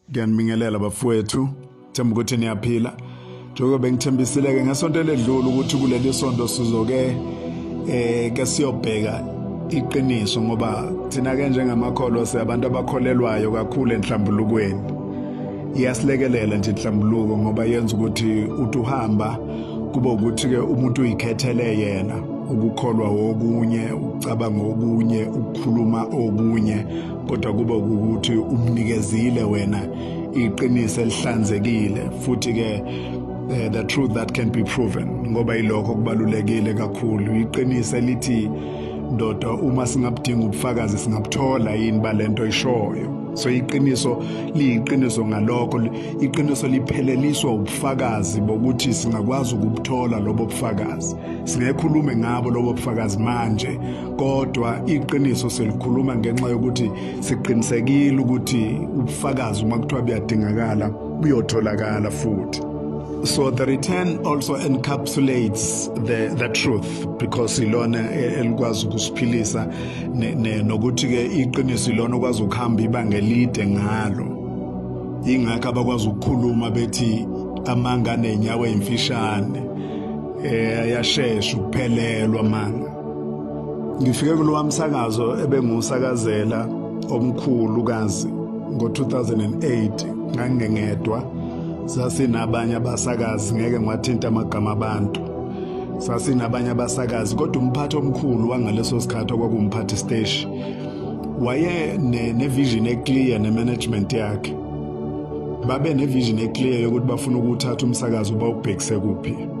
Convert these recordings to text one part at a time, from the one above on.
Ngiyanibingelela bafowethu, themba ukuthi niyaphila. Njengoba bengithembisile-ke ngesonto eledlule ukuthi kuleli sonto sizoke eh ke siyobheka iqiniso ngoba thina ke njengamakholwa siyabantu abakholelwayo kakhulu enhlambulukweni iyasilekelela nje inhlambuluko ngoba yenza ukuthi uthi uhamba kube ukuthi ke umuntu uyikhethele yena ukukholwa wokunye ucabanga okunye ukukhuluma okunye kodwa kube ukuthi umnikezile wena iqiniso elihlanzekile futhi ke Uh, the truth that can be proven ngoba ilokho kubalulekile kakhulu iqiniso elithi ndoda uma singabudinga ubufakazi singabuthola yini balento ishoyo so iqiniso liyiqiniso ngalokho iqiniso lipheleliswa ubufakazi bokuthi singakwazi ukubuthola lobo bufakazi singekhulume ngabo lobo bufakazi manje kodwa iqiniso selikhuluma ngenxa yokuthi siqinisekile ukuthi ubufakazi uma kuthiwa buyadingakala buyotholakala futhi So the return also encapsulates the, the truth because ilona elikwazi ukusiphilisa nokuthi ke iqiniso ilona okwazi ukuhamba ibanga elide ngalo ingakho abakwazi ukukhuluma bethi amanga nenyawo emfishane eh yashesha ukuphelelwa manga Ngifike kulowa msakazo ebengusakazela omkhulu kazi ngo-2008 ngangingedwa sasinabanye abasakazi ngeke ngiwathinta amagama abantu sasinabanye abasakazi kodwa umphathi omkhulu wangaleso sikhathi okwakumphathi stage waye ne-vision ne eclear ne-management yakhe babe ne-vision eclear yokuthi bafuna ukuthatha umsakazo bawubhekise kuphi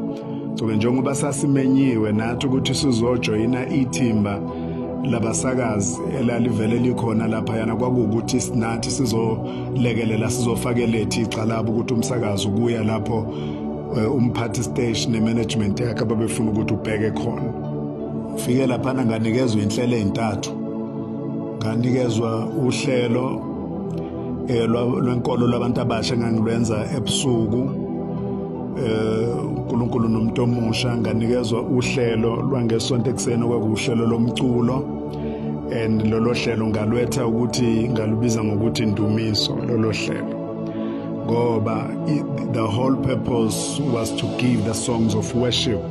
Cobe njengoba sasimenyiwe nathi ukuthi sizojoyina ithimba labasakazi elalivele likhona lapha yana kwakuwukuthi sinathi sizolekelela sizofakeletha igxalaba ukuthi umsakazi ukuya lapho eh, umphathi station nemanagement yakhe ababefuna ukuthi ubheke khona ufike lapha nganikezwa inhlelo ezintathu nganikezwa uhlelo eh, lwenkolo labantu abasha ngangilwenza ebusuku eh, uNkulunkulu nomuntu omusha nganikezwa uhlelo lwangesonto ekuseni okwakuhlelo lomculo and lolo hlelo ngalwetha ukuthi ngalubiza ngokuthi indumiso lolo hlelo ngoba the whole purpose was to give the songs of worship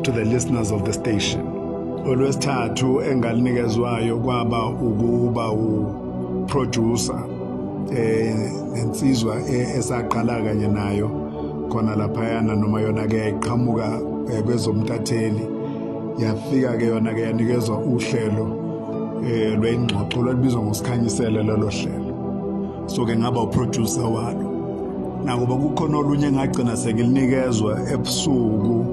to the listeners of the station olwesithathu engalinikezwayo kwaba ukuba u producer eh nensizwa e-, esaqala kanye nayo khona laphayana noma yona ke iqhamuka eh, kwezomtatheli yafika ke yona ke yanikezwa uhlelo eh lwengxoxo lwalibizwa ngosikhanyisele lelo hlelo so ke ngaba uproducer walo nakuba kukhona olunye engagcina sengilinikezwa ebusuku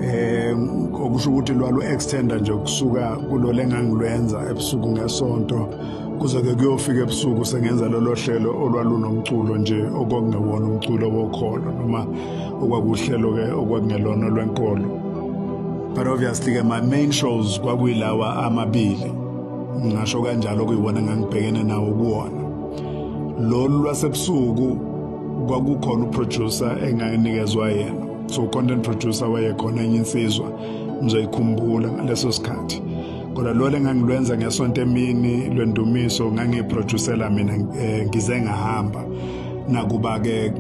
eh okusho ukuthi lwalu extender nje kusuka kulole engangilwenza ebusuku ngesonto kuze-ke kuyofika ebusuku sengenza lolo hlelo olwalunomculo nje okwakungewona umculo wokholo noma okwakuhlelo-ke okwakungelona olwenkolo but obviously-ke my main shows kwakuyilawa amabili ngingasho kanjalo kuyiwona engangibhekene nawo kuwona lolu lwasebusuku kwakukhona uproducer enganginikezwa yena so content producer wayekhona enye insizwa ngizoyikhumbula ngaleso sikhathi kodwa lolu engangilwenza ngesonto emini lwendumiso ngangiyiproducela mina eh, ngize ngahamba nakuba-ke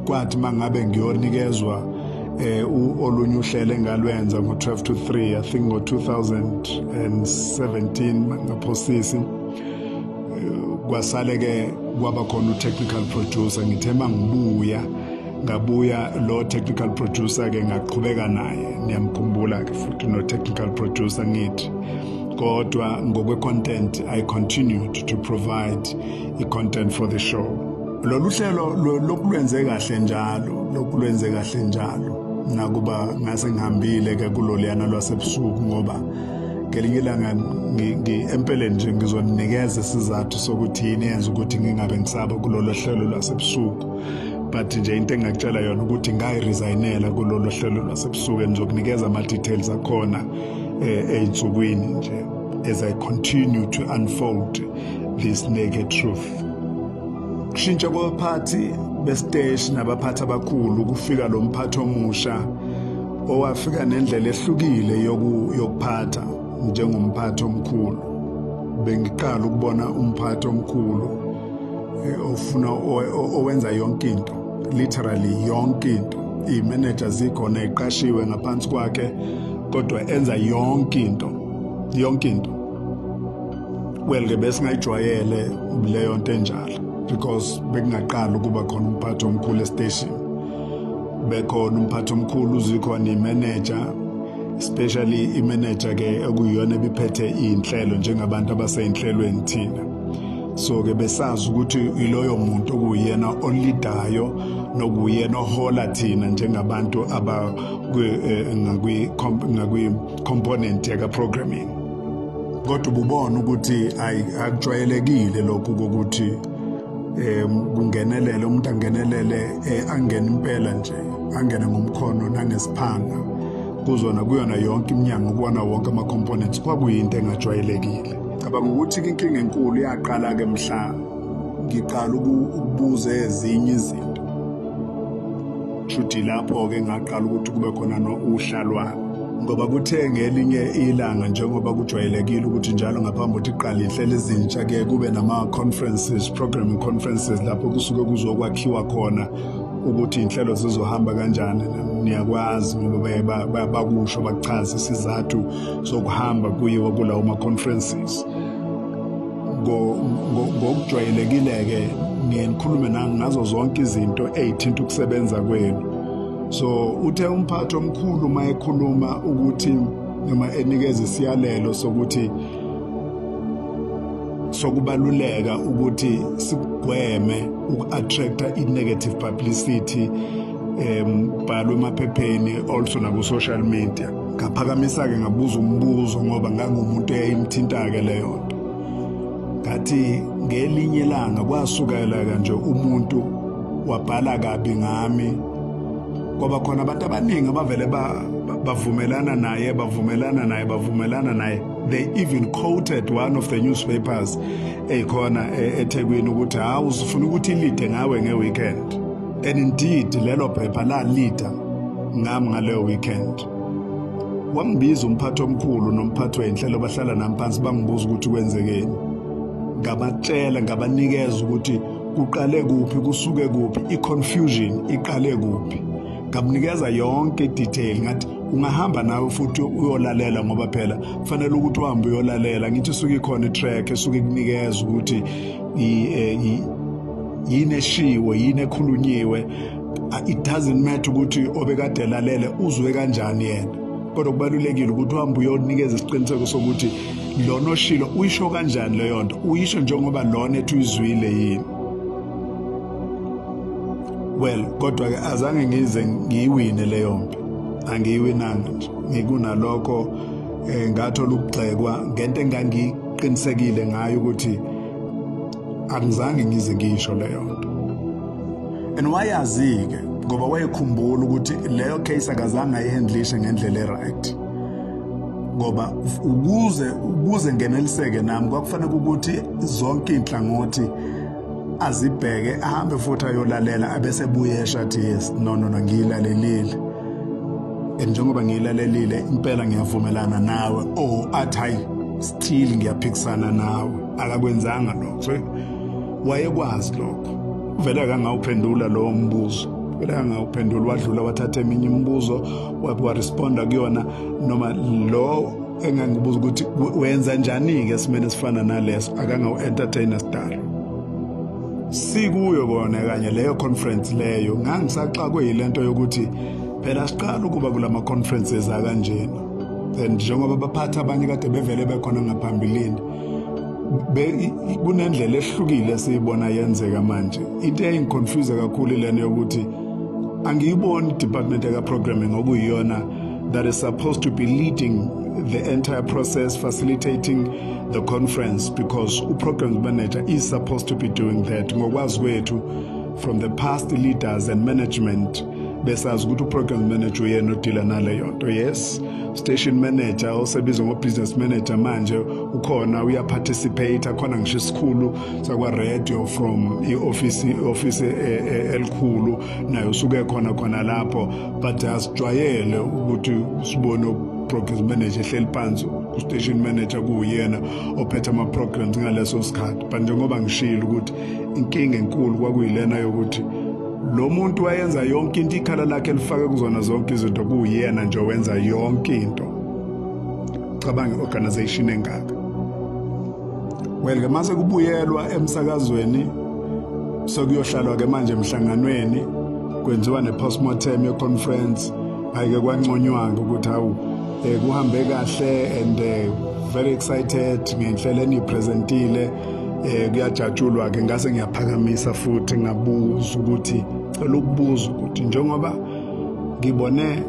kwathi uma ngabe ngiyonikezwa um olunye uhlelo engalwenza ngo-12 to 3 i think ngo-2017 ngaphosisi eh, kwasale-ke kwaba khona u-technical producer ngithe uma ngibuya ngabuya lo technical producer ke ngaqhubeka naye niyamkhumbula ke futhi no technical producer ngithi kodwa ngokwe content i continued to provide i content for the show lolu hlelo lokulwenze kahle njalo lokulwenze kahle njalo nakuba ngase ngihambile ke kuloliyana lwasebusuku ngoba ngelinye ilanga empeleni nje ngizoninikeza isizathu sokuthi yini yenza ukuthi ngingabe ngisaba kulolo hlelo lwasebusuku but nje into engingakutshela yona ukuthi ngayiresayinela kulolu hlelo lwasebusuku engizokunikeza ama-details akhona um eh, ey'nsukwini nje as i continue to unfold this naked truth kushintsha kwabaphathi besiteshi nabaphathi abakhulu kufika lo mphathi omusha owafika nendlela ehlukile yokuphatha njengomphathi omkhulu bengiqala ukubona umphathi omkhulu eh, ofuna owenza yonke into literally yonke into iy'manager zikhona eqashiwe ngaphansi kwakhe kodwa enza yonke into yonke into well-ke besingayijwayele leyo nto enjalo because bekungaqala ukuba khona umphathi omkhulu estation bekhona umphathi omkhulu uzikhona imeneja especially imeneja-ke ekuyiyona ebiphethe iy'nhlelo njengabantu abasey'nhlelweni thina so ke besazi ukuthi iloyo muntu okuyena olidayo nokuyena ohola thina njengabantu aba eh, ngakwi ngakwi component yaka programming kodwa ububona ukuthi akujwayelekile lokhu kokuthi um kungenelele umuntu angenelele eh, angene impela nje angene ngomkhono nangesiphanga kuzona kuyona yonke iminyango kubona wonke ama-components kwakuyinto engajwayelekile Cabanga ukuthi inkinga enkulu yaqala-ke mhla ngiqala ukubuza ezinye izinto. Shuthi lapho-ke ngaqala ukuthi kube khona nousha lwami. Ngoba kuthe ngelinye ilanga njengoba kujwayelekile ukuthi njalo ngaphambi kokuthi iqale ihlele izintsha ke kube nama-conferences, programming conferences lapho kusuke kuzokwakhiwa khona ukuthi inhlelo zizohamba kanjani niyakwazi ngoba bakusho bakuchaza isizathu sokuhamba kuyiwa kulawo ma-conferences ngokujwayelekile-ke ngiye ngikhulume ngazo zonke izinto ey'thinta ukusebenza kwenu so uthe umphathi omkhulu uma ekhuluma ukuthi noma enikeza isiyalelo sokuthi sokubaluleka ukuthi sigweme uku-attracta i-negative publicity um bhalwe emaphepheni also naku-social media ngaphakamisa-ke ngabuza umbuzo ngoba ngangumuntu eyayimthinta-ke leyo nto ngathi ngelinye ilanga kwasukela-ke nje umuntu wabhala kabi ngami ngoba khona abantu abaningi abavele bavumelana naye bavumelana naye bavumelana naye they even quoted one of the newspapers eyikhona e-, ethekwini ukuthi hawu usufuna ukuthi ilide ngawe nge-weekend And indeed lelo phepha lalida ngami ngaleyo weekend. Wambiza umphathi omkhulu nomphathi wenhlelo bahlala nami phansi bangibuza ukuthi kwenzekeni. Ngabatshela ngabanikeza ukuthi kuqale kuphi kusuke kuphi i-confusion iqale kuphi. Ngamnikeza yonke i-detail ngathi ungahamba nawe futhi uyolalela ngoba phela kufanele ukuthi uhambe uyolalela ngithi suke ikhona i-track esuke kunikeza ukuthi yini eshiwe yini ekhulunyiwe it doesn't matter ukuthi obekade elalele uzwe kanjani yena kodwa kubalulekile ukuthi uhambe uyonikeza isiqiniseko sokuthi lona oshilo uyisho kanjani leyo nto uyisho njengoba lona ethi uyizwile yini well kodwa-ke azange ngize ngiyiwine leyo mpi angiyiwinanga nje ngikunalokho um ngathola ukugxekwa ngento engangi qinisekile ngayo ukuthi angizange ngize ngisho leyo nto and wayazi-ke ngoba wayekhumbula ukuthi leyo case akazange ayihandlishe ngendlela e-right ngoba ukuze ukuze ngeneliseke nami kwakufanele ukuthi zonke iy'nhlangothi azibheke ahambe futhi ayolalela abese buyesha athi yes no no no ngiyilalelile and njengoba ngiyilalelile impela ngiyavumelana nawe oh athi hayi still ngiyaphikisana nawe akakwenzanga lokho so wayekwazi lokho uvele akangawuphendula lowo mbuzo vele akangawuphendula wadlula wathatha eminye imibuzo wabe waresponda kuyona noma lo engangibuza ukuthi wenza njani-ke esimeni esifana naleso akangawu-entertaina sidalo sikuyo kona kanye leyo conference leyo ngangisaxakwe yile nto yokuthi phela siqala ukuba kula ma-conferences akanjena and njengoba baphatha abanye kade bevele bekhona ngaphambilini kunendlela ehlukile esiyibona yenzeka manje into eyayingiconfuse kakhulu ilena yokuthi angiyiboni i-department yaka-programming okuyiyona that is supposed to be leading the entire process, facilitating the conference, because program manager is supposed to be doing that. Ngokwazi kwethu from the past leaders and management besazi ukuthi uprogram manager uyena odila naleyo nto yes station manager osebizwa ngo-business manager manje ukhona uyaparticipate akhona ngisho isikhulu sakwaradio from i-ofisi i-ofisi eh, eh, elikhulu naye usuke khona khona lapho but asijwayele ukuthi sibone programs manager ehleli phansi ustation manager kuwuyena ophethe ama-programs ngaleso sikhathi but njengoba ngishile ukuthi inkinga enkulu kwakuyilena yokuthi lo muntu wayenza yonke into ikhala lakhe lifake kuzona zonke izinto kuwuyena nje wenza yonke into cabanga i-organization engaka well ke mase kubuyelwa emsakazweni sokuyohlalwa ke manje emhlanganweni kwenziwa ne-postmortem ye-conference ayike kwanconywa-ke ukuthi hawu um kuhambe kahle and eh, very excited ngenhlelo eniyipresentile um kuyajatshulwa-ke ngase ngiyaphakamisa futhi ngabuza ukuthi cela ukubuza ukuthi njengoba ngibone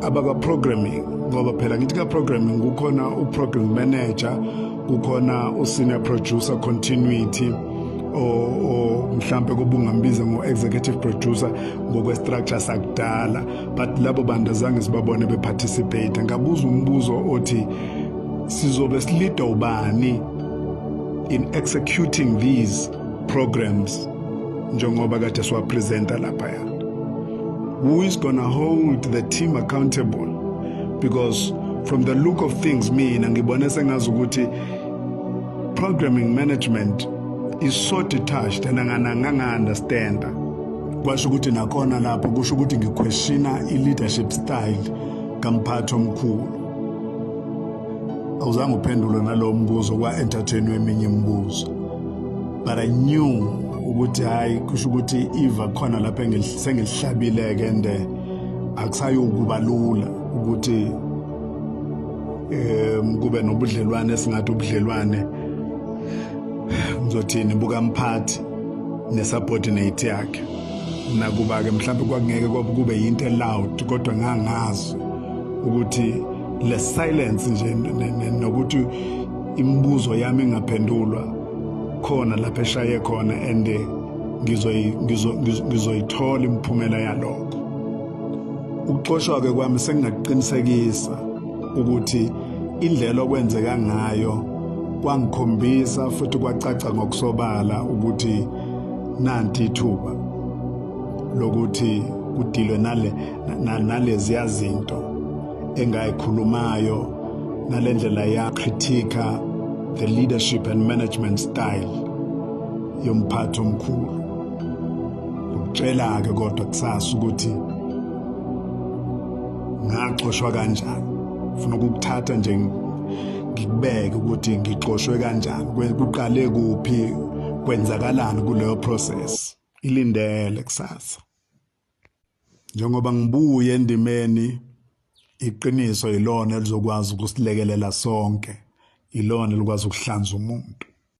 abaka-programming ngoba phela ngithi ka-programming kukhona u-program manager kukhona u-senior producer continuity mhlambe kubungambiza ngo-executive producer ngokwestructure sakudala but labo bantu azange sibabone beparticipate ngabuza umbuzo othi sizobe silida ubani in executing these programs njengoba kade siwapresenta laphaya who is gonna hold the team accountable because from the look of things mina ngibone sengazi ukuthi Programming management is so detached and angananganga understand. Kwasho ukuthi nakhona lapho kusho ukuthi ngiquestiona i-leadership style kamphathi omkhulu. Awuzange uphendule nalowo mbuzo kwa-entertainwe eminye imibuzo. But I knew ukuthi hayi kusho ukuthi iva khona lapho engilihlabile-ke and eh, akusayokuba lula ukuthi um kube nobudlelwane esingathi ubudlelwane ngizothini bukamphathi nesubordinate yakhe nakuba-ke mhlawumbe kwakungeke kwakube yinto eloud kodwa ngangazi ukuthi le silence nje nokuthi imibuzo yami ingaphendulwa khona lapho eshaye khona and ngizoyithola imiphumela yalokho ukuxoshwa ke kwami sengingakuqinisekisa ukuthi indlela okwenzeka ngayo kwangikhombisa futhi kwacaca ngokusobala ukuthi nanti ithuba lokuthi kudilwe nale naleziya zinto engayikhulumayo nalendlela ya critique the leadership and management style yomphathi omkhulu Ngikutshela-ke kodwa kusasa ukuthi ngaxoshwa kanjani. Ngifuna ukukuthatha nje ngikubeke ukuthi ngixoshwe kanjani, kuqale kuphi, kwenzakalani kuleyo process. Ilindele kusasa. Njengoba ngibuye endimeni iqiniso yilona elizokwazi ukusilekelela sonke, yilona elikwazi ukuhlanza umuntu.